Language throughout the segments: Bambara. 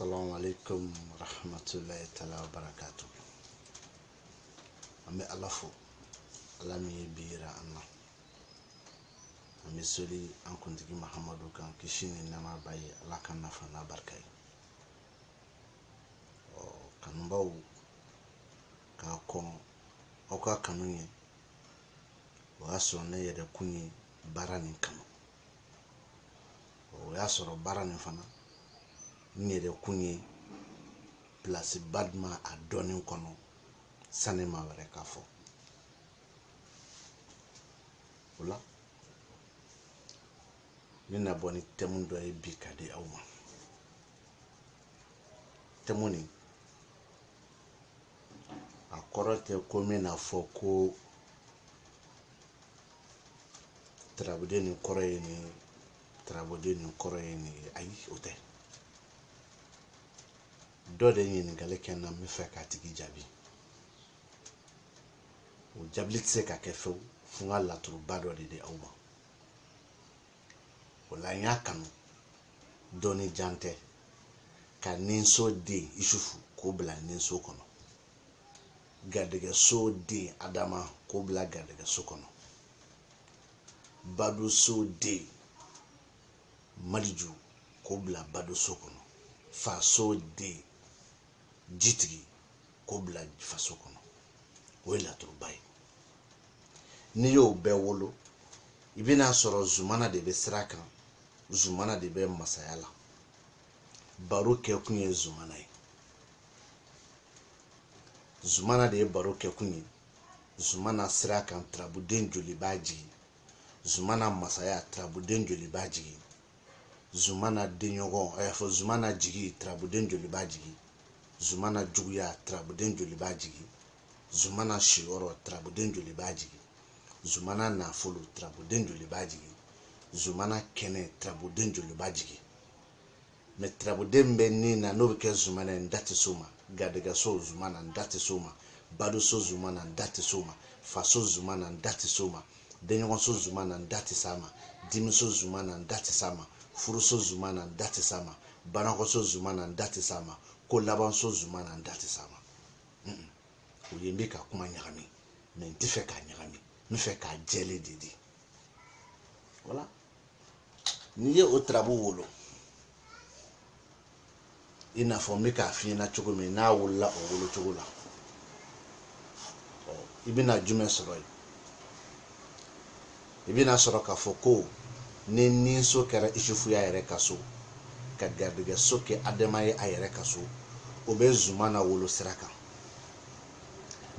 Assalamu alaikum rahmatullahi ta'ala wa barakatu. An bɛ Ala fo, Ala min ye bi yira an na. An bɛ soli an kuntigi Mahamadu kan kisi ni nɛɛma b'a ye Ala k'an nafa n'a barika ye. Ɔ kanubaw ka kɔn aw ka kanu ɲɛ o y'a sɔrɔ ne yɛrɛ kun ye baara nin kanu. o y'a sɔrɔ baara nin fana n yɛrɛ kun ye pilasi ba di a ma a dɔnni kɔnɔ sani maa wɛrɛ k'a fɔ o la ne na bɔ ni tɛmu dɔ ye bi ka di aw ma tɛmu nin a kɔrɔ tɛ ko n bɛna fɔ ko turabuden nin kɔrɔ ye nin turabuden nin kɔrɔ ye nin ye ayi o tɛ dɔ de ɲininkali kɛ n na n bɛ fɛ k'a tigi jaabi o jaabili tɛ se ka kɛ fewu fo n ka laturuba dɔ de di aw ma o la n y'a kanu dɔɔni jan tɛ ka ninso den isufu k'o bila ninso kɔnɔ garijɛgɛso den adama k'o bila garijɛgɛso kɔnɔ baduso den maliju k'o bila baduso kɔnɔ faso den jitigi k'o bila faso kɔnɔ o ye laturuba ye n'i y'o bɛɛ wolo i bɛna sɔrɔ zumana de bɛ sira kan zumana de bɛ masaya la baro kɛkun ye zumana ye zumana de ye baro kɛkun ye zumana sira kan turabuden joli b'a jigin zumana masaya turabuden joli b'a jigin zumana denɲɔgɔn a y'a fɔ zumana jigi turabuden joli b'a jigi zumana juguya turabuden joli b'a jigi zumana siyɔrɔ turabuden joli b'a jigi zumana nafolo turabuden joli b'a jigi zumana kɛnɛ turabuden joli b'a jigi mɛ turabuden bɛ ni na n'o bɛ kɛ zumana ye n da tɛ s'o ma garijɛgɛso zumana n da tɛ s'o ma badoso zumana n da tɛ s'o ma faso zumana n da tɛ s'o ma denɲɔgɔnso zumana n da tɛ s'a ma dimiso zumana n da tɛ s'a ma furuso zumana n da tɛ s'a ma banakɔso zumana n da tɛ s'a ma kolabanso zumana n da tɛ s'a ma o ye n bɛ ka kuma ɲagami mɛ n tɛ fɛ k'a ɲagami n bɛ fɛ k'a jɛlen de di voilà n'i ye o turabu wolo i n'a fɔ n bɛ k'a f'i ɲɛna cogo min n'a wolola o wolo cogo la i bɛna jumɛn sɔrɔ yen i bɛna sɔrɔ k'a fɔ ko ni ninso kɛra isufu y'a yɛrɛ ka so ka garijɛgɛso kɛ adama ye a yɛrɛ ka so o bɛ zumana wolo sira kan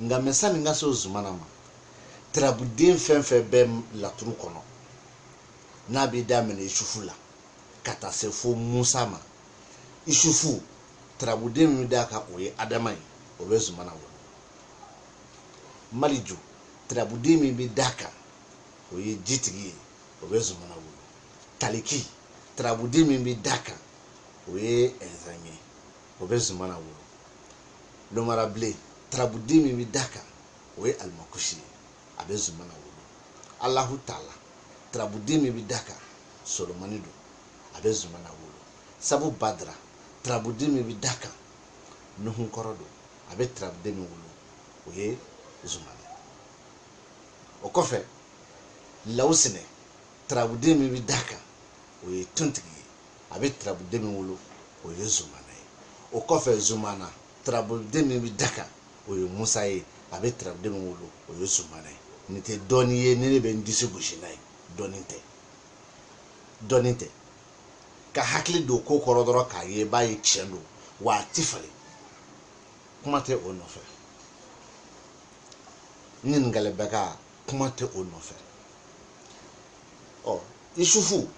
nka mɛ sani n ka se o zumana ma turabuden fɛn fɛn bɛ laturu kɔnɔ n'a bɛ daminɛ isufu la ka taa se fo musa ma isufu turabuden min d'a kan o ye adama ye o bɛ zumana wolo maliju turabuden min bɛ d'a kan o ye jitigi ye o bɛ zumana wolo taliki turabuden min bɛ d'a kan o ye ɛnzan ye o bɛ zumana wolo lomarabilen turabuden min bɛ da kan o ye alimakusi ye a bɛ zumana wolo alahu taala turabuden min bɛ da kan solomani don a bɛ zumana wolo sabu badara turabuden min bɛ da kan nuhun kɔrɔ don a bɛ turabuden min wolo o ye zumana o kɔfɛ lawusinɛ turabuden min bɛ da kan o ye tontigi ye a bɛ turabuden min wolo o ye zumana ye o kɔfɛ zumana turabuden min bɛ da kan o ye musa ye a bɛ turabuden min wolo o ye zumana ye nin tɛ dɔnni ye ni ne bɛ n disi gosi n'a ye dɔnni tɛ dɔnni tɛ ka hakili don ko kɔrɔ dɔrɔn k'a ye b'a ye tiɲɛ don wa a ti falen kuma tɛ o nɔfɛ ɲininkali bɛ ka kuma tɛ o nɔfɛ ɔ isufu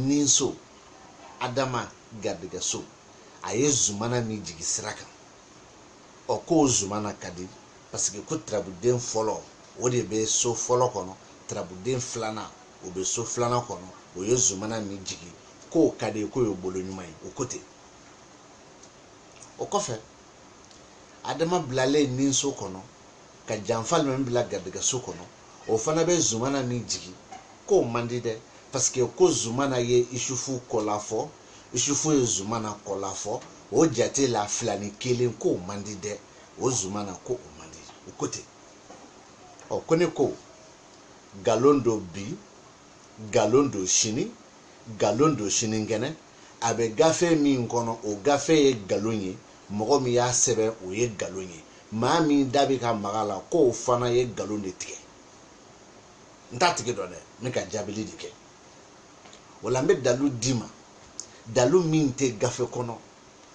ninso adama garijɛgɛso a ye zumana min jigi sira kan ɔ k'o zumana ka di paseke ko turabuden fɔlɔ o de bɛ so fɔlɔ kɔnɔ turabuden filanan o bɛ so filanan kɔnɔ o ye zumana min jigi k'o ka di k'o ye bolo ɲuman ye o ko ten o kɔfɛ adama bilalen ninso kɔnɔ ka janfa alimami bila garijɛgɛso kɔnɔ o fana bɛ zumana min jigin k'o man di dɛ paseke ko zumana ye isufu kɔlafɔ isufu ye zumana kɔlafɔ o jate la fila ni kelen k'o man di dɛ o zumana ko o man di o ko ten ɔ ko ne ko galon don bi galon don sini galon don sinikɛnɛ a bɛ gafe min kɔnɔ o gafe ye nkalon ye mɔgɔ min y'a sɛbɛn o ye nkalon ye maa min da bɛ ka maga a la k'o fana ye nkalon de tigɛ n t'a tigi dɔn dɛ n bɛ ka jaabili de kɛ o la n bɛ dalu d'i ma dalu min tɛ gafe kɔnɔ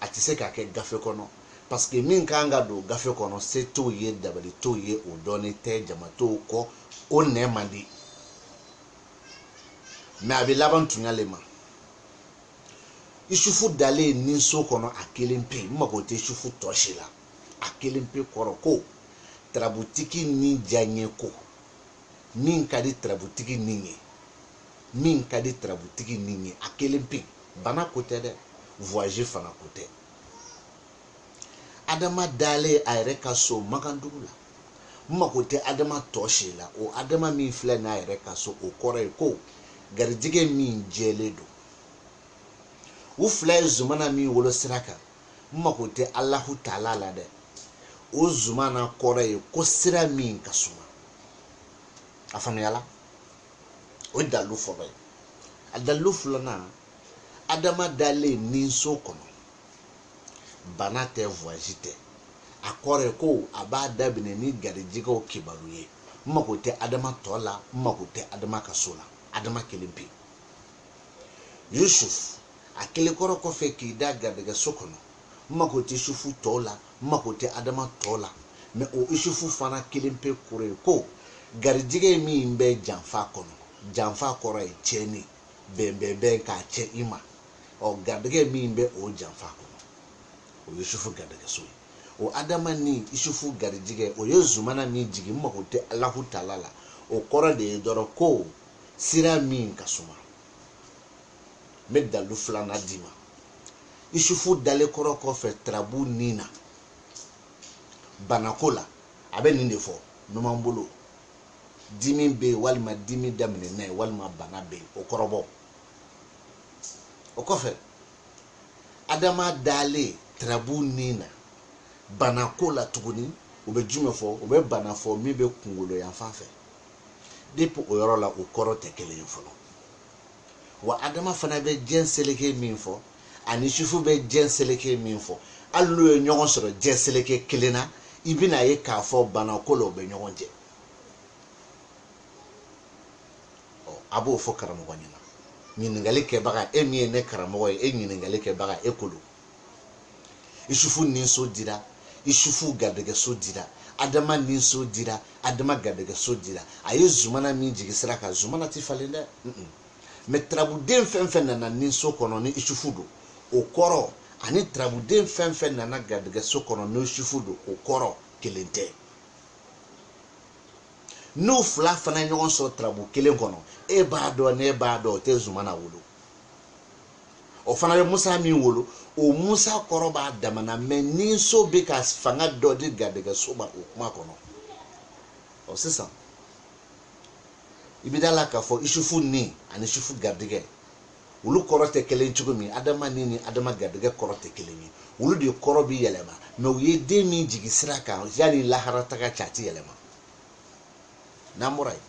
a tɛ se ka kɛ gafe kɔnɔ parce que min kan ka don gafe kɔnɔ se t'o ye dabali t'o ye o dɔnnen tɛ jama t'o kɔ o mɛn man di mais a bɛ laban tuɲa le ma isufu dalen ni so kɔnɔ a kelen pe n mago tɛ isufu tɔ si la a kelen pe kɔrɔ ko tarabutigi ni diyaɲɛ ko min ka di tarabutigi ni ye min ka di tarabutigi ni ye a kelen pe bana ko tɛ dɛ voyage fana ko tɛ adama dalen a yɛrɛ ka so makandugu la n mago tɛ adama tɔ si la o adama min filɛ n'a yɛrɛ ka so o kɔrɔ ye ko garijɛgɛ min jɛlen don u fila ye zumana min wolo sira kan n mago tɛ alahu taala la dɛ o zumana kɔrɔ ye ko sira min ka suma a faamuyala o ye dalilu fɔlɔ ye a dalilu filanan adama dalen ni so kɔnɔ bana tɛ voyage tɛ a kɔrɔ ye ko a b'a daminɛ ni garijɛgɛw kibaru ye n mago tɛ adama tɔ la n mago tɛ adama ka so la adama kelen pe yusuf a kelen kɔrɔ kɔfɛ k'i da garijɛgɛ so kɔnɔ n mago tɛ yusufu tɔ la n mago tɛ adama tɔ la mais o yusufu fana kelen pe kɔrɔ ye ko garijɛgɛ min bɛ janfa kɔnɔ janfa kɔrɔ ye tiɲɛni bɛnbɛnbɛn k'a cɛn i ma ɔ garijɛgɛ min bɛ o janfa kɔnɔ o ye sufu garijɛgɛso ye o adama ni isufu garijɛgɛ o ye zumana min jigin n mago tɛ alahu taala la o kɔrɔ de ye dɔrɔn ko sira min ka suma n bɛ dalu filanan d'i ma isufu dalen kɔrɔ kɔfɛ tarabu nin na banako la a bɛ nin de fɔ numan bolo dimi bɛ yen walima dimi daminɛna yen walima bana bɛ yen o kɔrɔbɔ o kɔfɛ adama dalen tarabu nin na bana ko la tuguni u bɛ jumɛn fɔ u bɛ bana fɔ min bɛ kunkolo yan fan fɛ depuis o yɔrɔ la o kɔrɔ tɛ kelen ye fɔlɔ wa adama fana bɛ diɲɛ seleke min fɔ ani sufu bɛ diɲɛ seleke min fɔ hali n'u ye ɲɔgɔn sɔrɔ diɲɛ seleke kelen na i bɛn'a ye k'a fɔ bana ko la u bɛ ɲɔgɔn cɛn a b'o fɔ karamɔgɔ ɲɛna ɲininkali kɛbaga e min ye ne karamɔgɔ ye e ɲininkali kɛbaga e ko don isufu ninso dira isufu garijɛgɛso dira adama ninso dira adama garijɛgɛso dira a ye zumana min jigi sira kan zumana tɛ falen dɛ mais tarabuden fɛn fɛn nana ninso kɔnɔ ni isufu don o kɔrɔ ani tarabuden fɛn fɛn nana garijɛgɛso kɔnɔ ni isufu don o kɔrɔ kelen tɛ n'u fila fana ɲɔgɔn sɔrɔ tarabu kelen kɔnɔ e b'a dɔn ne b'a dɔn o tɛ zumana wolo o fana bɛ musa min wolo o musa kɔrɔ b'a damana mais ninso bɛ ka fanga dɔ di garijɛgɛ so ma o kuma kɔnɔ ɔ sisan i bɛ da la k'a fɔ isufu ni ani isufu garijɛgɛ olu kɔrɔ tɛ kelen cogo min adama ni ni adama garijɛgɛ kɔrɔ tɛ kelen ye olu de kɔrɔ bɛ yɛlɛma mais u ye den min jigi sira kan yanni lahara taga cɛ a tɛ yɛlɛma n'an bɔra yen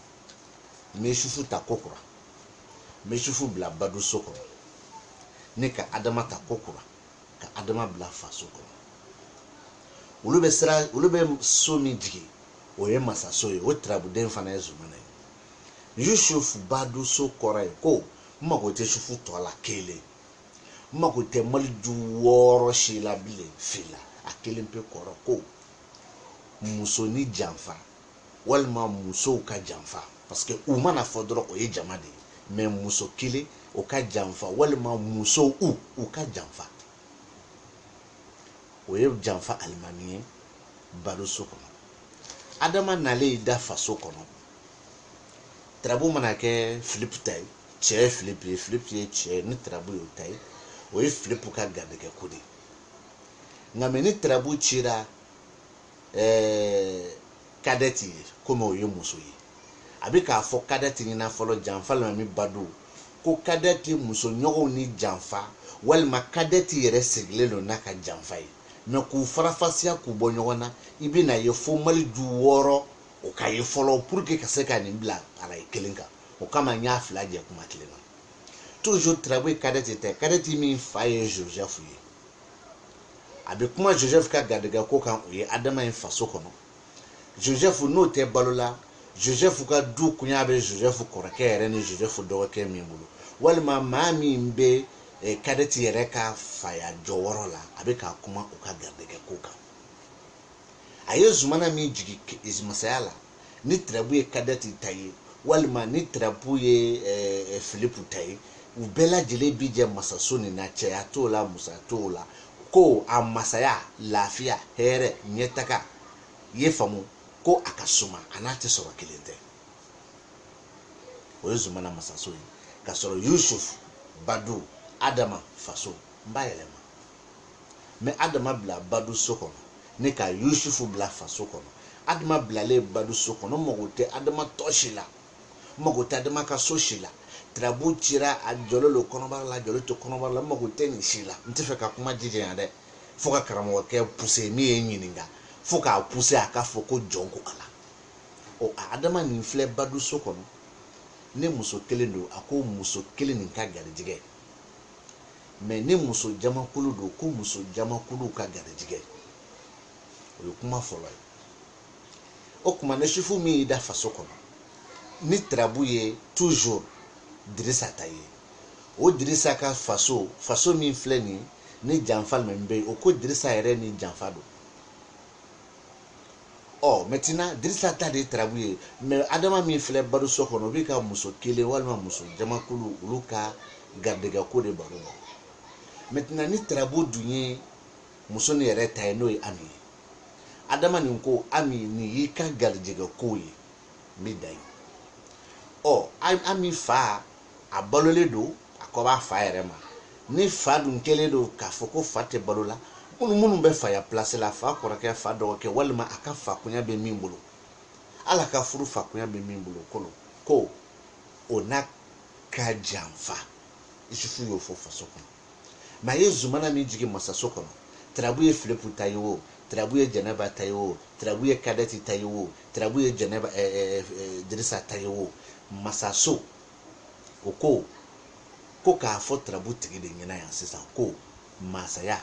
n bɛ isufu ta ko kura n bɛ isufu bila badu so kɔnɔ ne ka adama ta ko kura ka adama bila faso kɔnɔ olu bɛ so min jigin o ye masaso ye o tarabuden fana ye zumana ye yusuf badu so kɔrɔ ye ko n mago tɛ isufu tɔ la kelen n mago tɛ maliju wɔɔrɔ si la bilen fila a kelen pe kɔrɔ ko muso ni janfa walima musow ka janfa parce que u mana fɔ dɔrɔn o ye jama de ye mais muso kelen o ka janfa walima musow u u ka janfa o ye janfa alimami ye badu so kɔnɔ adama nalen da faso kɔnɔ tarabu mana kɛ filipu ta ye cɛ ye filipu ye filipu ye cɛ ye ni tarabu y'o ta ye o ye filipu ka garijɛgɛ ko de ye nka mais ni tarabu cira ɛɛ kadɛti ye komi o ye muso ye a bɛ k'a fɔ kadɛti ɲɛna fɔlɔ janfa alimami badu ko kadɛti muso ɲɔgɔnw ni janfa walima kadɛti yɛrɛ sigilen don n'a ka janfa ye mais k'u farafasiya k'u bɔ ɲɔgɔn na i bɛn'a ye fo maliju wɔɔrɔ o ka ye fɔlɔ pour que ka se ka nin bila arayi kelen kan o kama n y'a fila jɛ kuma kelen na toujours tarabu ye kadɛti ta ye kadɛti min fa ye joseph ye a bɛ kuma joseph ka garijɛgɛ ko kan o ye adama ye faso kɔnɔ joseph n'o tɛ balo la joseph ka du kunya bɛ joseph kɔrɔkɛ yɛrɛ ni joseph dɔgɔkɛ min bolo walima maa min bɛ kadɛti eh, yɛrɛ ka faya jɔyɔrɔ la a bɛ ka kuma o ka garijɛgɛ ko kan a ye zumana min jigin masaya la ni tarabu ye kadɛti ta ye walima ni tarabu ye eh, eh, filipu ta ye u bɛɛ lajɛlen bi jɛ masaso nin na cɛya t'o la musoya t'o la ko a masaya lafiya hɛrɛ ɲɛtaga ye faamu ko a ka suma a n'a tɛ sɔrɔ kelen tɛ o ye zumana masaso ye ka sɔrɔ yusuf badu adama faso n b'a yɛlɛma mais adama bila badu so kɔnɔ ne ka yusufu bila faso kɔnɔ adama bilalen badu so kɔnɔ n mago tɛ adama tɔ si la n mago tɛ adama ka so si la tarabu cira a jɔlen don kɔnɔbara la a jɔlen to kɔnɔbara la n mago tɛ nin si la n tɛ fɛ ka kuma jijanya dɛ fo ka karamɔgɔkɛ pousser min ye n ɲininka fo k'a pousser a k'a fɔ ko jɔn ko ala ɔ adama nin filɛ badu so kɔnɔ ni muso kelen don a ko muso kelen nin ka garijɛgɛ mais ni muso jamakulu don ko muso jamakulu ka garijɛgɛ o ye kuma fɔlɔ ye o kuma na isufu min y'i da faso kɔnɔ ni tarabu ye toujours dirisa ta ye o dirisa ka faso faso min filɛ nin ni janfa min bɛ yen o ko dirisa yɛrɛ ni janfa don ɔ maintenant dirisa ta de tarabu ye mais adama min filɛ badu so kɔnɔ o b'i ka muso kelen walima muso jamakulu olu ka garijɛgɛ ko de baro la maintenant ni tarabu dun ye muso nin yɛrɛ ta ye n'o ye ami ye adama nin ko ami nin y'i ka garijɛgɛ ko ye n bɛ dan yen ɔ ami fa a balolen don a kɔ b'a fa yɛrɛ ma ni fa dun kɛlen don k'a fɔ ko fa tɛ balo la minnu minnu bɛ faya pilasi la fa kɔrɔkɛ fa dɔgɔkɛ walima a ka fakunya bɛ min bolo ala ka furu fakunya bɛ min bolo kolo ko o n'a ka janfa isufu y'o fɔ faso kɔnɔ mais a ye zumana min jigin masaso kɔnɔ tarabu ye filipu ta ye o tarabu ye jɛnɛba ta ye o tarabu ye kadɛti ta ye o tarabu ye jɛnɛba eh, eh, eh, eh, dirisa ta ye o masaso o ko ko k'a fɔ tarabu tigi de ɲɛna yan sisan ko masaya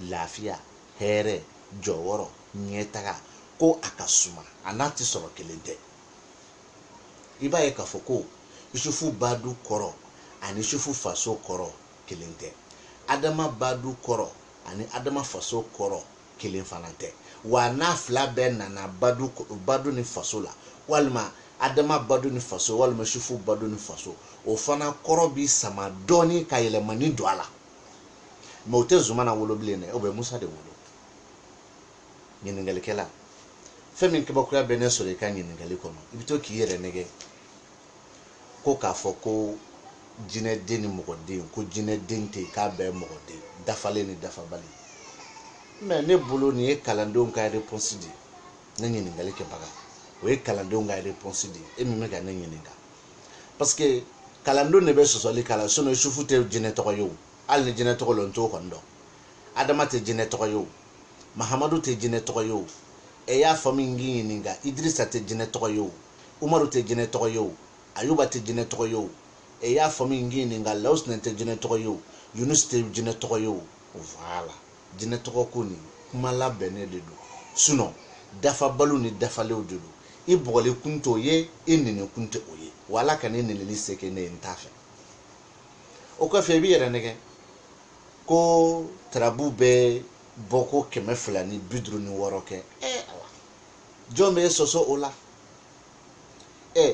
lafiya hɛrɛ jɔyɔrɔ ɲɛtaga ko a ka suma a n'a tɛ sɔrɔ kelen tɛ i b'a ye k'a fɔ ko yusufu badu kɔrɔ ani yusufu faso kɔrɔ kelen tɛ adama badu kɔrɔ ani adama faso kɔrɔ kelen fana tɛ wa n'a fila bɛɛ nana badu ni faso la walima adama badu ni faso walima yusufu badu ni faso o fana kɔrɔ bi sama dɔɔni ka yɛlɛmani don a la mais o tɛ zumana wolo bilen dɛ o bɛ musa de wolo ɲininkalikɛla fɛn min kabakoya bɛ ne sɔrɔ i ka ɲininkali kɔnɔ i bɛ to k'i yɛrɛ nɛgɛ ko k'a fɔ ko jinɛden ni mɔgɔden ko jinɛden tɛ yen k'a bɛɛ mɔgɔden dafalen ni dafabali mais ne bolo nin ye kalandenw ka réponse de ye ne ɲininkali kɛbaga o ye kalandenw ka réponse de ye e min bɛ ka ne ɲininka parce que kalandenw de bɛ sɔsɔli k'a la sinon isufu tɛ jinɛ tɔgɔ ye o hali ni jinɛ tɔgɔ don n t'o kɔni dɔn adama tɛ jinɛ tɔgɔ ye o mahamadu tɛ jinɛ tɔgɔ ye o e y'a faamu n k'i ɲininka idirisa tɛ jinɛ tɔgɔ ye o umaru tɛ jinɛ tɔgɔ ye o ayuba tɛ jinɛ tɔgɔ ye o e y'a faamu n k'i ɲininka lawusinɛ tɛ jinɛ tɔgɔ ye o yunus tɛ jinɛ tɔgɔ ye o voilà jinɛ tɔgɔ ko nin kuma labɛnnen de don sinon dafabaliw ni dafalenw de don i bɔgɔli kun t'o ye i nɛni kun tɛ o ye wa ala kana nɛnili se kɛ ne ye n t'a fɛ o kɔfɛ i b'i yɛrɛ nɛgɛ ko tarabu bɛ bɔ ko kɛmɛ fila ni bi duuru ni wɔɔrɔ kɛ ɛ awa jɔn b'e sɔsɔ o la ɛ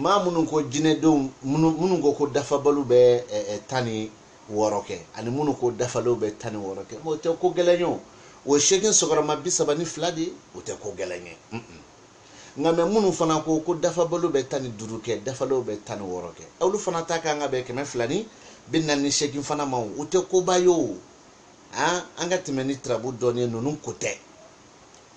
maa minnu ko jinɛdenw minnu minnu ko ko dafabaliw bɛ ɛ ɛ tan ni wɔɔrɔ kɛ ani minnu ko dafalenw bɛ tan ni wɔɔrɔ kɛ o tɛ ko gɛlɛn ye o o ye seegin sigiyɔrɔma bi saba ni fila de ye o tɛ ko gɛlɛn ye nka mɛ minnu fana ko ko dafabaliw bɛ tan ni duuru kɛ dafalenw bɛ tan ni wɔɔrɔ kɛ olu fana ta ka kan ka bɛn kɛmɛ fila ni bi naani ni seegin fana ma o tɛ koba ye o an an ka tɛmɛ ni tarabu dɔɔni ye ninnu ko tɛ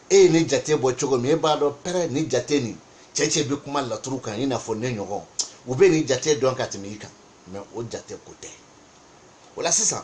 e ye nin jate bɔ cogo min e b'a dɔn pɛrɛ nin jate nin cɛ cɛ bɛ kuma laturu kan i n'a fɔ ne ɲɔgɔn u bɛ nin jate dɔn ka tɛmɛ i kan mais o jate ko tɛ o la sisan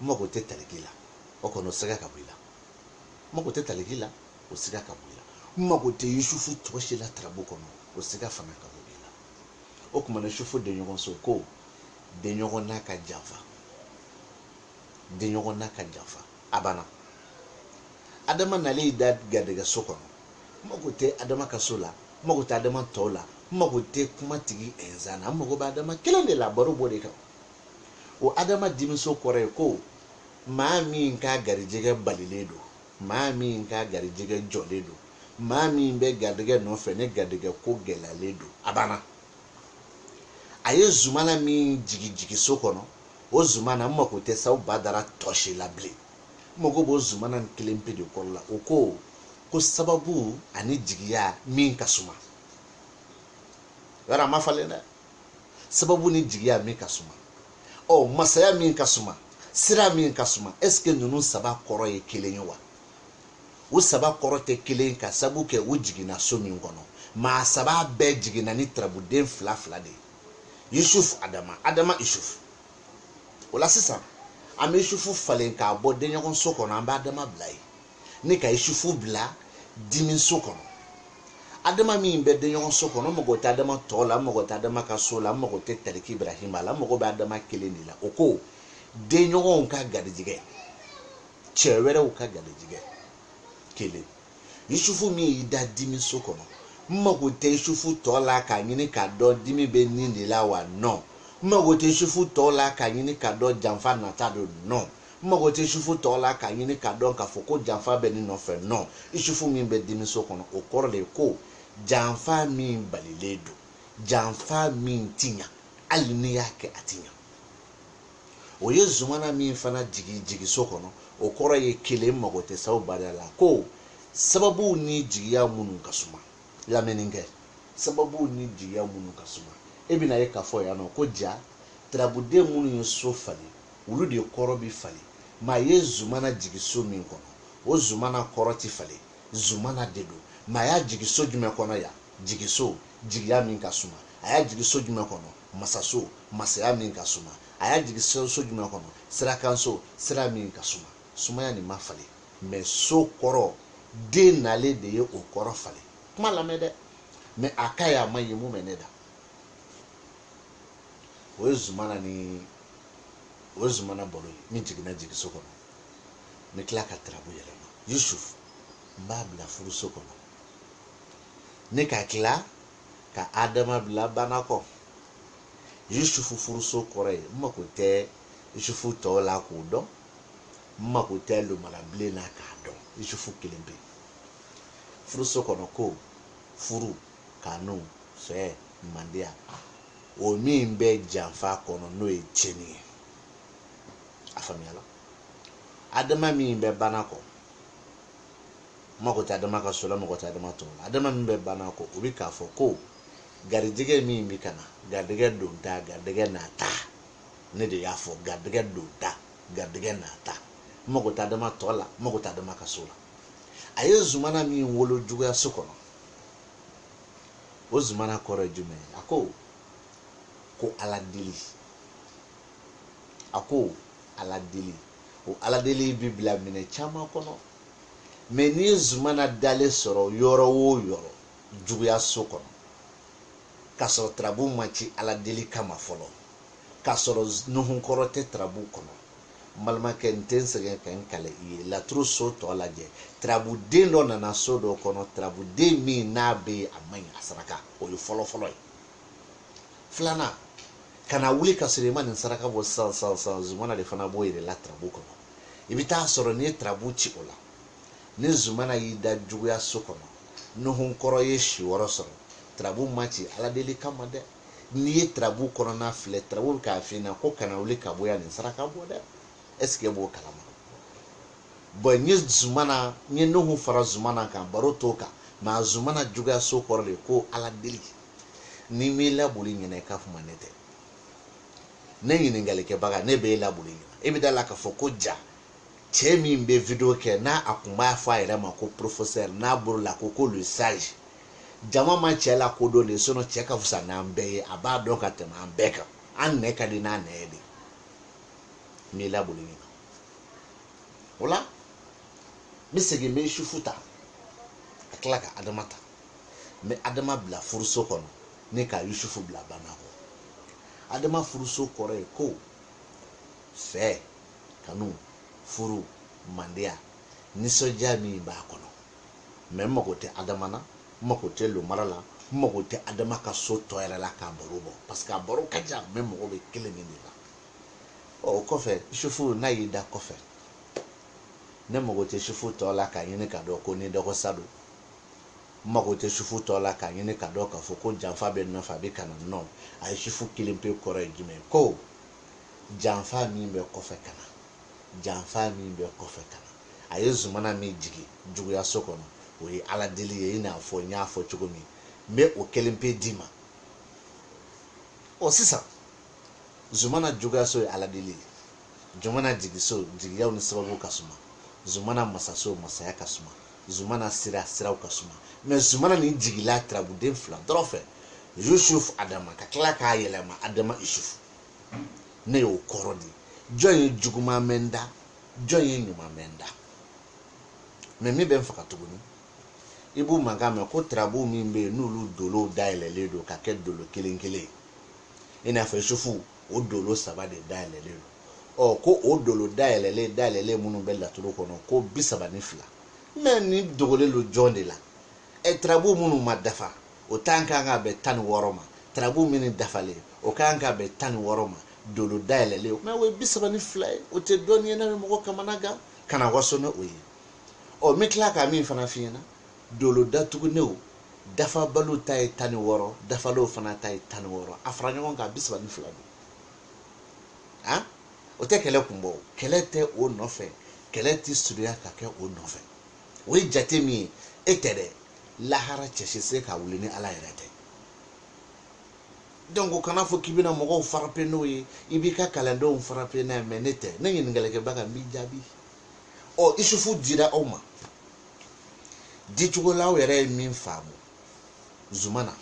n mago tɛ taliki la o kɔni o sɛgɛ ka bɔ i la n mago tɛ taliki la o sɛgɛ ka bɔ i la n mago tɛ yusufu tɔ si la tarabu kɔnɔ o sɛgɛ fana ka bɔ i la o tuma na yusufu denɲɔgɔn so ko denɲɔgɔn n'a ka janfa denɲɔgɔn n'a ka janfa a banna adama nalen y'i da garijɛgɛ so kɔnɔ n mago tɛ adama ka so la n mago tɛ adama tɔw la n mago tɛ kuma tigi ɛnzan na n mago bɛ adama kelen de la baro b'o de kan o adama dimiso kɔrɔ ye ko maa min ka garijɛgɛ balilen don maa min ka garijɛgɛ jɔlen don maa min bɛ garijɛgɛ nɔfɛ ni garijɛgɛ ko gɛlɛyalen don a banna a ye zumana min jigin jigi so kɔnɔ o zumana n mako tɛ saw badara tɔ si la bilen n mako b'o zumana nin kelen pe de kɔrɔ la o ko ko sababu ani jigiya min ka suma yɔrɔ a ma falen dɛ sababu ni jigiya min ka suma ɔ masaya min ka suma sira min ka suma est ce que ninnu saba kɔrɔ ye kelen ye wa u saba kɔrɔ tɛ kelen ka sabu kɛ u jiginna so min kɔnɔ maa saba bɛɛ jiginna ni tarabuden fila fila de ye yusuf adama adama yusuf o la sisan an bɛ yusufu falen k'a bɔ denɲɔgɔnso kɔnɔ an bɛ adama bila yen ni ka yusufu bila dimiso kɔnɔ adama min bɛ denɲɔgɔn so kɔnɔ n mago tɛ adama tɔ la n mago tɛ adama ka so la n mago tɛ tariki ibrahima la n mago bɛ adama kelen de la o ko denɲɔgɔnw ka garijigɛ cɛ wɛrɛw ka garijigɛ kelen yusufu min y'i da dimi so kɔnɔ n mago tɛ yusufu tɔ la k'a ɲini k'a dɔn dimi bɛ nin de la wa non n mago tɛ yusufu tɔ la k'a ɲini k'a dɔn janfa nata don non n mago tɛ yusufu tɔ la k'a ɲini k'a dɔn k'a fɔ ko janfa bɛ nin nɔfɛ non yusufu min bɛ dimiso kɔnɔ o kɔrɔ de ye ko janfa min balilen don janfa min ti ɲa hali n'i y'a kɛ a ti ɲa o ye zumana min fana jigi jigiso kɔnɔ o kɔrɔ ye kelen mago tɛ saw baliya la ko sababuw ni jigiya minnu ka suma lamɛnni kɛ sababuw ni jigiya minnu ka suma e bɛna ye k'a fɔ yan nɔ ko ja tarabuden minnu ye so falen olu de kɔrɔ bi falen maa ye zumana jigi so min kɔnɔ o zumana kɔrɔ ti falen zumana de don maa y'a jigi so jumɛn kɔnɔ yan jigiso jigiya min ka suma a y'a jigi so jumɛn kɔnɔ masaso masaya min ka suma a y'a jigi so jumɛn kɔnɔ sirakanso sira min ka suma sumaya nin ma falen mais so kɔrɔ den nalen de ye o kɔrɔ falen kuma lamɛn dɛ mais a ka ye a ma ye mun bɛ ne da o ye zumana ni o ye zumana baro ye min jiginna jigiso kɔnɔ n bɛ tila ka tarabu yɛlɛma yusuf n b'a bila furuso kɔnɔ ne ka tila ka adama bila banakɔ yusufu furuso kɔrɔ ye n mako tɛ yusufu tɔw la k'o dɔn n mako tɛ lomarabilen na k'a dɔn yusufu kelenpe furuso kɔnɔ ko furu kanu fɛ mandiya o min bɛ janfa kɔnɔ n'o ye tiɲɛni ye a faamuyala adama min bɛ banakɔ mako tɛ adama ka so la mako tɛ adama tɔw la adama min bɛ banakɔ o bɛ k'a fɔ ko garijɛgɛ min bɛ ka na garijɛgɛ donta garijɛgɛ nata ne de y'a fɔ garijɛgɛ donta garijɛgɛ nata mako tɛ adama tɔ la mako tɛ adama ka so la a ye zumana min wolo juguya so kɔnɔ o zumana kɔrɔ ye jumɛn ye a ko ko ala deli a ko ala deli o ala deli bi bila minɛn caman kɔnɔ mais n'i ye zumana dalen sɔrɔ yɔrɔ o yɔrɔ juguya so kɔnɔ k'a sɔrɔ tarabu ma ci ala deli kama fɔlɔ k'a sɔrɔ nuhunkɔrɔ tɛ tarabu kɔnɔ n balimakɛ n tɛ n sɛgɛn ka n kali i ye laturu so tɔ lajɛ tarabuden dɔ nana so dɔ kɔnɔ tarabuden min n'a bɛ yen a man ɲi a saraka o ye fɔlɔfɔlɔ ye filanan kana wuli ka sɔrɔ i ma nin saraka bɔ sisan sisan sisan zumana de fana b'o yɛrɛ la tarabu kɔnɔ i bɛ taa sɔrɔ n'i ye tarabu ci o la ni zumana y'i da juguya so kɔnɔ nuhunkɔrɔ ye si wɔɔrɔ sɔrɔ tarabu ma ci ala deli kama dɛ n'i ye tarabu kɔnɔna filɛ tarabu bɛ k'a f'i ɲɛna ko kana wuli ka bɔ yan nin saraka bɔ dɛ est-ce que b'o kalama bon n ye zumana n ye nuhu fara zumana kan baro t'o kan mɛ a zumana juguya so kɔrɔ de ko ala deli ni n m'i laboli ɲinan i ka kuma ne tɛ ne ɲininkalikɛbaga ne bɛ e laboli ɲinan e bɛ da la k'a fɔ ko ja cɛ min bɛ video kɛ n'a a kun b'a fɔ a yɛrɛ ma ko professeur n'a bolo la ko ko le sage jama ma cɛ lakodɔn de sinon cɛ ka fisa n'an bɛɛ ye a b'a dɔn ka tɛmɛ an bɛɛ kan an nɛn ka di n'a nɛn ye de n b'i laboli nin kan o la n bɛ segin n bɛ yusufu ta ka tila ka adama ta n bɛ adama bila furuso kɔnɔ ni ka yusufu bila banakɔ adama furuso kɔrɔ ye ko fɛ kanu furu mandiya nisɔndiya min b'a kɔnɔ mɛ n mago tɛ adama na n mago tɛ lomara la n mago tɛ adama ka so tɔ yɛrɛ la k'a baro bɔ parce que a baro ka jan mɛ n mago bɛ kelen min de la o kɔfɛ yusufu n'a y'i da kɔfɛ ne mago tɛ sufu tɔ la k'a ɲini ka dɔn ko ni dɔgɔ sa don n mago tɛ sufu tɔ la k'a ɲini ka dɔn k'a fɔ ko janfa bɛ nɔfɛ a bɛ ka na nɔ a ye sufu kelen pe kɔrɔ ye jumɛn ko janfa min bɛ kɔfɛ ka na janfa min bɛ kɔfɛ ka na a ye zumana min jigin juguyaso kɔnɔ o ye ala deli ye i n'a fɔ n y'a fɔ cogo min n bɛ o kelen pe d'i ma ɔ sisan zumana juguyaso ye ala deli ye jumana jigiso jigiyaw ni sababu ka suma zumana masaso masaya ka suma zumana sira siraw ka suma mɛ zumana nin jigila turabuden fila dɔrɔn fɛ yusuf adama ka tila k'a yɛlɛma adama isufu ne y'o kɔrɔ di jɔn ye juguman mɛn n da jɔn ye ɲuman mɛn n da mɛ min bɛ n faga tuguni i b'u mankan mɛn ko turabu min bɛ yen n'olu dolow dayɛlɛlen don ka kɛ dolo kelen kelen ye i n'a fɔ isufu o dolo saba de dayɛlɛlen don ɔ ko o dolo dayɛlɛlen dayɛlɛlen minnu bɛ laturu kɔnɔ ko bi saba ni fila mɛ nin dogolen don jɔn de la ɛ tarabu minnu ma dafa o ta ka kan ka bɛn tan ni wɔɔrɔ ma tarabu minnu dafalen o ka kan ka bɛn tan ni wɔɔrɔ ma dolo dayɛlɛlen mɛ o ye bi saba ni fila ye o tɛ dɔnni ye n'a bɛ mɔgɔ kamanagan kana waso ni o ye ɔ n bɛ tila ka min fana f'i ɲɛna dolo datugunnenw dafabaliw ta ye tan ni wɔɔrɔ dafalenw fana ta ye tan ni wɔɔrɔ a fara ɲɔgɔn kan a bi saba ni fila don a o tɛ kɛlɛ kun bɔ kɛlɛ tɛ o nɔfɛ kɛlɛ tɛ surunya ka kɛ o nɔfɛ o ye jate min ye e tɛ dɛ lahara cɛ si se ka wuli ni ala yɛrɛ tɛ donc o kana a fɔ k'i bɛna mɔgɔw farape n'o ye i b'i ka kalandenw farape n'a ye mɛ ne tɛ ne ɲininkalikɛbaga n b'i jaabi ɔ isufu dira aw ma dicogo la aw yɛrɛ ye min faamu zumana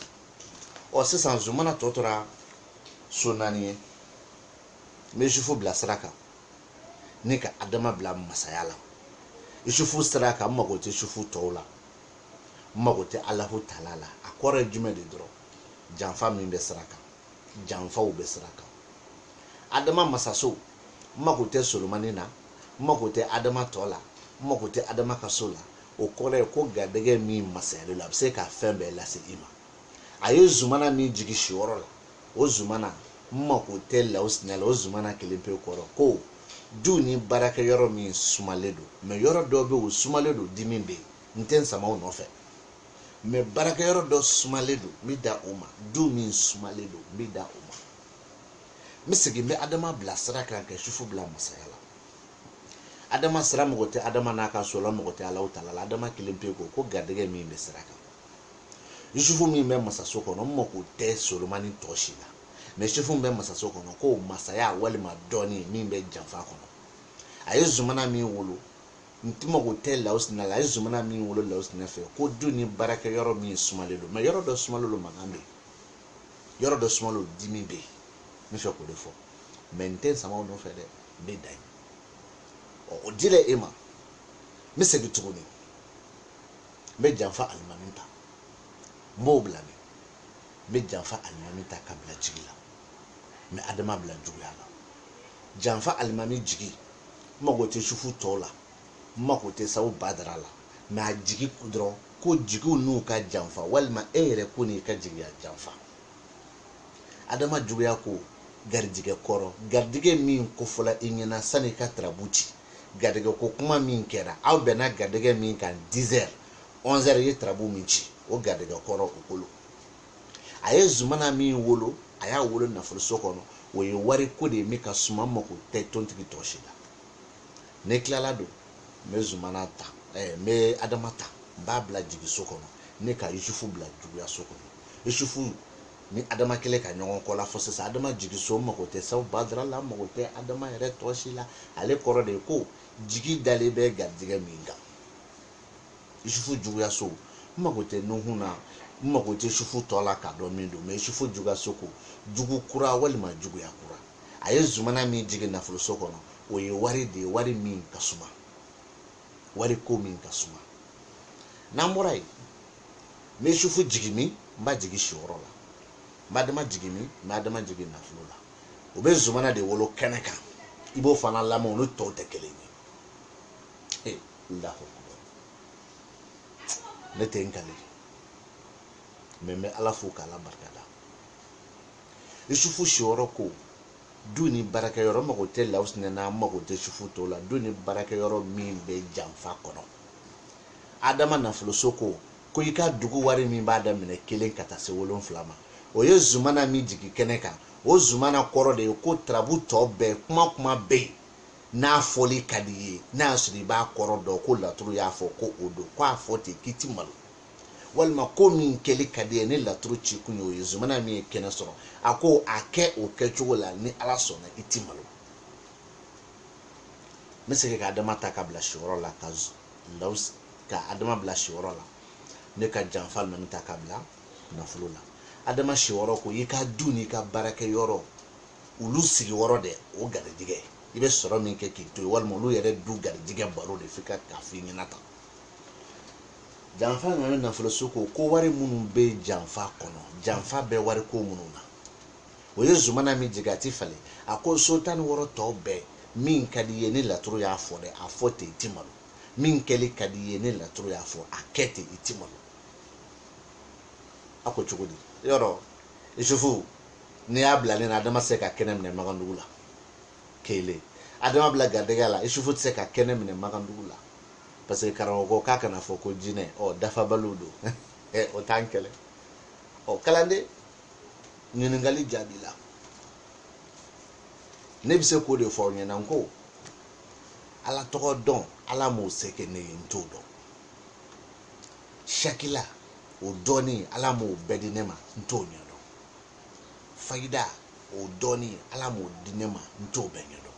ɔ sisan zumana tɔ tora so naani ye n bɛ isufu bila sira kan ni ka adama bila masaya la isufu sira kan n mago tɛ isufu tɔw la n mago tɛ alahu tala la a kɔrɔ ye jumɛn de dɔrɔn janfa min bɛ sira kan janfaw bɛ sira kan adama masaso n mako tɛ solomani na n mako tɛ adama tɔ la n mako tɛ adama ka so la o kɔrɔ ye ko garijɛgɛ min masayalen don a bɛ se ka fɛn bɛɛ lase i ma a ye zumana min jigin siyɔrɔ la o zumana n mako tɛ lawusinya la o zumana kelen pe kɔrɔ ko du ni baarakɛyɔrɔ min sumalen don mais yɔrɔ dɔ bɛ o sumalen don dimi bɛ yen n tɛ n sama o nɔfɛ mais baarakɛyɔrɔ dɔ sumalen don n bɛ da o ma du min sumalen don n bɛ da o ma n bɛ segin n bɛ adama bila sira kan ka sufu bila masaya la adama sira mako tɛ adama n'a ka so la mako tɛ alahu tala la adama kelen pe kɔrɔ ko garijɛgɛ min bɛ sira kan yusufu min bɛ masaso kɔnɔ n mako tɛ solomani tɔ si la mais yusufu min bɛ masaso kɔnɔ ko masaya walima dɔnni min bɛ janfa kɔnɔ a ye zumana min wolo n tɛ mako tɛ lawusina la a ye zumana min wolo lawusina fɛ ko du ni baarakɛyɔrɔ min sumalen don mais yɔrɔ dɔ sumalen don mankan bɛ yen yɔrɔ dɔ sumalen don dimi bɛ yen n b'a fɛ k'o de fɔ mais n tɛ n sama o nɔfɛ dɛ n bɛ dan yen ɔ o dila e ma n bɛ segin tuguni n bɛ janfa alimami ta n b'o bila min n bɛ janfa alimami ta ka bila jigi la n bɛ adama bila juguya la janfa alimami jigi n mago tɛ sufu tɔw la n mako tɛ sabu badara la mais a jigi dɔrɔn ko jigiw n'u ka janfa walima e yɛrɛ ko n'i ka jigiya janfa adama juguya ko garijigɛ kɔrɔ garijigɛ min kofɔla i ɲɛna sani ka turabu ci garijigɛ ko kuma min kɛra aw bɛnna garijigɛ min kan 10 heures 11 heures i ye turabu min ci o garijigɛ kɔrɔ o ko lo a ye zumana min wolo a y'a wolo nafoloso kɔnɔ o ye wari ko de ye min ka suma n mako tɛ tontigi tɔ si la ne tilalen don n bɛ zumana ta ɛɛ n bɛ adama ta n b'a bila jigiso kɔnɔ ne ka yusufu bila juguyaso kɔnɔ yusufu ni adama kɛlen ka ɲɔgɔn kɔ la fo sisan adama jigiso mago tɛ sabu badara la mago tɛ adama yɛrɛ tɔ si la ale kɔrɔ de ye ko jigi dalen bɛ garijɛgɛ min kan yusufu juguyaso n mago tɛ nuhun na n mago tɛ sufu tɔ la k'a dɔn min don mais sufu juguyaso ko jugu kura walima juguya kura a ye zumana min jigin nafoloso kɔnɔ o ye wari de ye wari min ka suma wari ko min ka suma n'an bɔra yen n bɛ isufu jigin min n b'a jigin siyɔrɔ la n b'adama jigin min n b'adama jigin nafolo la o bɛ zumana de wolo kɛnɛ kan i b'o fana lamɛn olu tɔw tɛ kelen ye alahu ne tɛ n kali mais n bɛ ala fo k'ala barikada isufu siyɔrɔ ko du ni baarakɛyɔrɔ n mago tɛ lawusinɛ na n mago tɛ isufu tɔ la du ni baarakɛyɔrɔ min bɛ janfa kɔnɔ adama nafoloso ko ko i ka dugu wari min b'a daminɛ kelen ka taa se wolonfila ma o ye zumana min jigin kɛnɛ kan o zumana kɔrɔ de ye ko turabu tɔ bɛɛ kuma kuma bɛ yen n'a fɔli ka di ye n'a y'a sɔrɔ i b'a kɔrɔ dɔn ko laturu y'a fɔ ko o don ko a fɔ ten k'i ti malo walima ko min kɛli ka di ye ni laturu ci kun y'o ye zumana min ye kɛnɛ sɔrɔ a ko a kɛ o kɛcogo la ni ala sɔnna i ti malo n bɛ segin ka adama ta ka bila siyɔrɔ la ka law ka adama bila siyɔrɔ la ne ka janfa ninnu ta ka bila nafolo la adama siyɔrɔ ko i ka du n'i ka baarakɛyɔrɔ olu sigiyɔrɔ dɛ o garijɛgɛ i bɛ sɔrɔ min kɛ k'i to yen walima olu yɛrɛ du garijɛgɛ baro de f'i ka k'a f'i ɲɛna tan janfa alimami nafoloso ko ko wari minnu bɛ janfa kɔnɔ janfa bɛ wari ko minnu na o ye zumana min jigin a ti falen a ko so tan ni wɔɔrɔ tɔw bɛɛ min ka di ye ni laturu y'a fɔ dɛ a fɔ ten i ti malo min kɛli ka di ye ni laturu y'a fɔ a kɛ ten i ti malo a ko cogo di yɔrɔ isufu n'i y'a bila ni na adama tɛ se ka kɛnɛ minɛ magandugu la kelen adama bila garijɛgɛ la isufu tɛ se ka kɛnɛ minɛ magandugu la parce que karamɔgɔ ko k'a kana fɔ ko jinɛ ɔ dafabaliw don ɛ o t'an kɛlɛ ɔ kalanden ɲininkali jaabi la ne bɛ se k'o de fɔ aw ɲɛna n ko ala tɔgɔ dɔn ala m'o se kɛ ne ye n t'o dɔn sakila o dɔɔni ala m'o bɛɛ di ne ma n t'o ɲɛdɔn fayida o dɔɔni ala m'o di ne ma n t'o bɛɛ ɲɛdɔn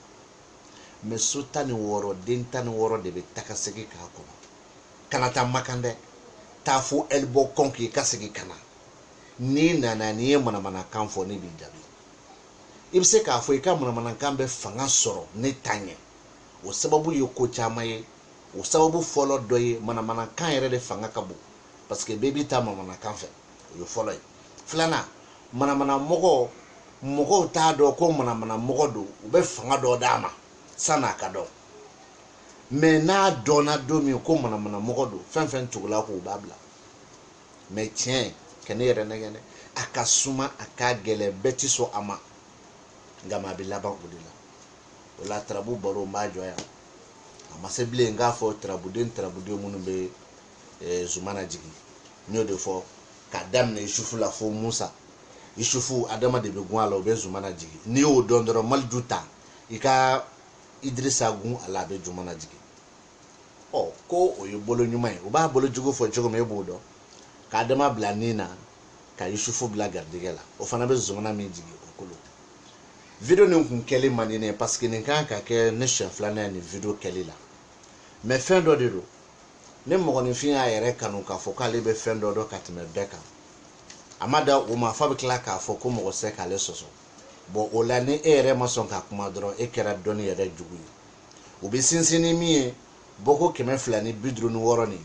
mais so tan ni wɔɔrɔ den tan ni wɔɔrɔ de bɛ taga segin k'a kɔnɔ kana taa makan dɛ taa fo ɛlibɔ kɔn k'i ka segin ka na n'i nana n'i ye manamanakan fɔ ne b'i jaabi i bɛ se k'a fɔ i ka manamanakan bɛ fanga sɔrɔ ne ta ɲɛ o sababu ye ko caman ye o sababu fɔlɔ dɔ ye manamanakan yɛrɛ de fanga ka bon parce que bɛɛ b'i ta manamanakan fɛ o ye fɔlɔ ye filanan manamana mɔgɔ mɔgɔw t'a dɔn ko manamana mɔgɔ don u bɛ fanga dɔ d'a ma san'a ka dɔn mais n'a dɔnna don min ko manamana mɔgɔ don fɛn fɛn tugul'a kɔ b'a bila mais tiɲɛ kɔni yɛrɛ nɛgɛ dɛ a ka suma a ka gɛlɛn bɛɛ ti sɔn a ma nka maa bɛ laban o de la o la tarabu baro n b'a jɔ yan a ma se bilen n k'a fɔ tarabuden tarabuden minnu bɛ eh, zumana jigin n y'o de fɔ k'a daminɛ isufu la fo musa isufu adama de bɛ gun a la o bɛ zumana jigin n'i y'o dɔn dɔrɔn maliju ta i ka idirisa gun a la a bɛ zumana jigin ɔ ko o ye bolo ɲuman ye u b'a bolo jugu fɔ cogo min e b'o dɔn ka adama bila nin na ka yusufu bila garijɛgɛ la o fana bɛ zumana min jigin o kolo video nin kun kɛli man di ne ye parce que nin kan ka kɛ ne siɲɛ filanan ye nin video kɛli la mais fɛn dɔ de don ni mɔgɔninfin y'a yɛrɛ kanu k'a fɔ k'ale bɛ fɛn dɔ dɔn ka tɛmɛ bɛɛ kan a ma dan o ma f'a bɛ tila k'a fɔ ko mɔgɔ tɛ se k'ale sɔsɔ bon o la ni e yɛrɛ ma sɔn ka kuma dɔrɔn e kɛra dɔnni yɛrɛ jugu ye u bɛ sinsin ni min ye bɔko kɛmɛ fila ni bi duuru ni wɔɔrɔ nin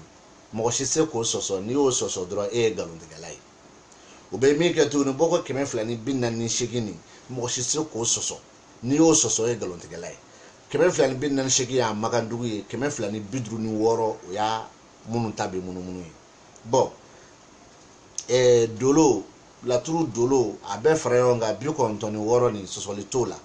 mɔgɔ si se k'o sɔsɔ n'i y'o sɔsɔ dɔrɔn e ye nkalontigɛla ye u bɛ min kɛ tuguni bɔko kɛmɛ fila ni bi naani ni seegin nin mɔgɔ si se k'o sɔsɔ n'i y'o sɔsɔ e ye nkalontigɛla ye kɛmɛ fila ni bi naani ni seegin y'a makandugu ye kɛmɛ fila ni bi duuru ni wɔɔrɔ o y'a minnu ta bɛ munumunu ye bon eh, dolo laturu dolo a bɛɛ fara ɲɔgɔn kan bi kɔnɔntɔn ni wɔɔrɔ nin sɔsɔli t'o la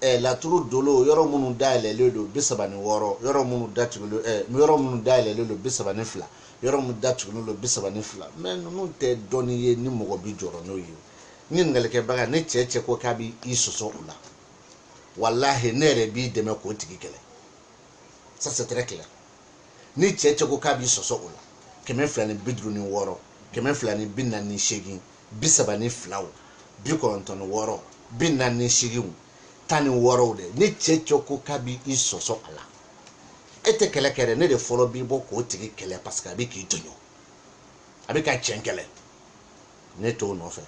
eh, laturu dolo yɔrɔ minnu dayɛlɛlen don bi saba ni wɔɔrɔ yɔrɔ minnu datugulen eh, yɔrɔ minnu dayɛlɛlen don bi saba ni fila yɔrɔ minnu datugulen don bi saba ni fila mais ninnu tɛ dɔnni ye ni mɔgɔ bi jɔrɔ n'o ye ɲininkalikɛbaga ni cɛ cɛ ko k'a bɛ i sɔsɔ o la walahi ne yɛrɛ b'i dɛmɛ k'o tigi kɛlɛ ça c'est très clair ni cɛ cɛ ko k'a b'i sɔsɔ o la kɛmɛ fila ni bi duuru ni wɔɔrɔ kɛmɛ fila ni bi naani ni seegin bi saba ni filaw bi kɔnɔntɔn ni wɔɔrɔ bi naani ni seeginw tan ni wɔɔrɔw dɛ ni cɛ cɛ ko k'a bɛ i sɔsɔ a la e tɛ kɛlɛ kɛ dɛ ne de fɔlɔ bi bɔ k'o tigi kɛlɛ parce que a bɛ k'i tɔɲɔ a bɛ ka cɛn kɛlɛ ne t'o nɔfɛ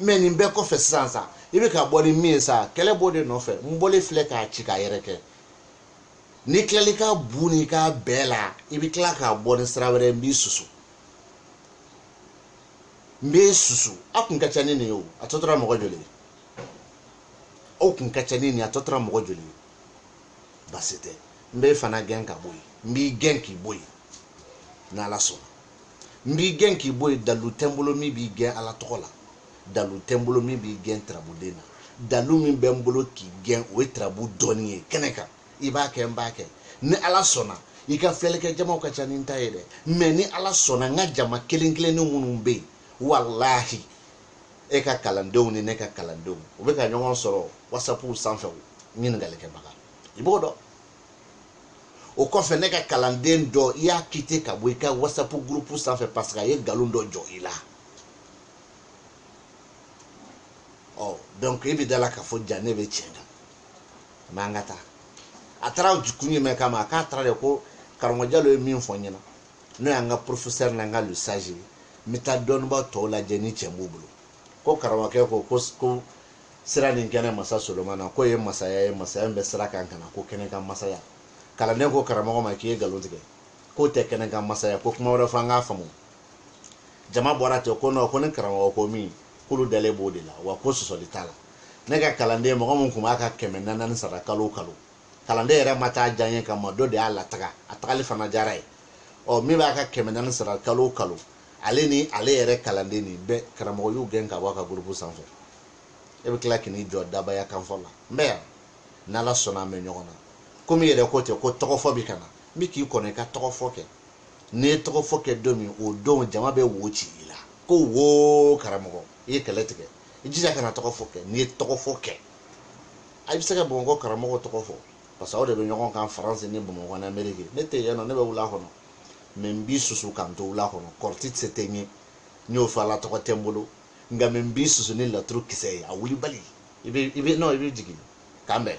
mais nin bɛɛ kɔfɛ sisan sa i bɛ ka bɔ ni min ye sa kɛlɛ b'o de nɔfɛ n bɔlen filɛ k'a ci k'a yɛrɛkɛ n'i tilali ka bun i ka bɛɛ la i bɛ tila ka bɔ ni sira wɛrɛ n b'i susu n b'e susu a kun ka ca ni nin ye o a tɔ tora mɔgɔ joli ye aw kun ka ca ni nin ye a tɔ tora mɔgɔ joli ye basi tɛ n b'e fana gɛn ka bɔ yen n b'i gɛn k'i bɔ yen n'ala sɔnna n b'i gɛn k'i bɔ yen dalu tɛ n bolo min b'i gɛn ala tɔgɔ la dalu tɛ n bolo min b'i gɛn tirabuden na dalu min bɛ n bolo k'i gɛn o ye tirabu dɔnni ye kɛnɛ kan i b'a kɛ n b'a kɛ ni ala sɔnna i ka filɛlikɛ jamaw ka ca ni n ta ye dɛ mɛ ni ala sɔnna n ka jama kelen kelenni minnu bɛ yen walahi e ka kalandenw ni ne ka kalandenw u bɛ ka ɲɔgɔn sɔrɔ wasapuw sanfɛ ɲininkalikɛbaga i b'o dɔn o kɔfɛ ne ka kalanden dɔ i y'a kite ka bɔ i ka whatsapp gurupu sanfɛ parce que a ye nkalon dɔ jɔ i la ɔ donc i bɛ da la k'a fɔ ja ne bɛ tiɲɛ kan mɛ an ka taa a taara kun jumɛn kama a k'a taara de ko karamɔgɔ jalo ye min fɔ n ɲɛna n'o y'an ka professeur n'an ka le sage ye n bɛ taa dɔnnibaa tɔw lajɛ ni tiɲɛ b'u bolo ko karamɔgɔkɛ ko ko sira nin kɛnɛ masa solomana k'o ye masaya ye masaya min bɛ sira kan ka na ko kɛnɛ kan masaya kalanden ko karamɔgɔ ma k'i ye nkalon tigɛ k'o tɛ kɛnɛ kan masaya ko kuma wɛrɛ fɔ an k'a faamu jama bɔra ten ko nɔ ko ni karamɔgɔ ko min k'olu dalen b'o de la wa ko sɔsɔli t'a la ne ka kalanden mɔgɔ min tun b'a ka kɛmɛ naani sara kalo kalo kalanden yɛrɛ ma taa diyanye kama dɔ de y'a lataga a tagali fana diyara ye ɔ min b'a ka kɛmɛ naani sara kalo kalo ale ni ale yɛrɛ kalanden nin bɛɛ karamɔgɔ y'u gɛn ka bɔ a ka gurupu sanfɛ e bɛ tila k'i n'i jɔ dabaya kanfɔ la n bɛ yan n'ala sɔnna an bɛ ɲɔgɔn na komi i yɛrɛ ko ten ko tɔgɔfɔ bɛ ka na n bɛ k'i kɔnɔ i ka tɔgɔfɔ kɛ n'i ye tɔgɔfɔ kɛ don min o don jama bɛ wo ci i la ko wo karamɔgɔ i ye kɛlɛ tigɛ i jija kana tɔgɔfɔ kɛ n'i ye tɔgɔfɔ kɛ a bɛ se ka bamakɔ karamɔgɔ tɔgɔ fɔ parce que aw de bɛ ɲɔgɔn kan faransi ni bamakɔ ni ameriki ne tɛ yen nɔ ne bɛ wula kɔnɔ mɛ n b'i susu ka n to wula kɔnɔ kɔrɔti se tɛ n ye n y'o fɔ ala tɔgɔ tɛ n bolo nka mɛ n b'i susu ni laturu kisɛ ye a wulibali i bɛ i bɛ nɔn i bɛ jigin ka n bɛn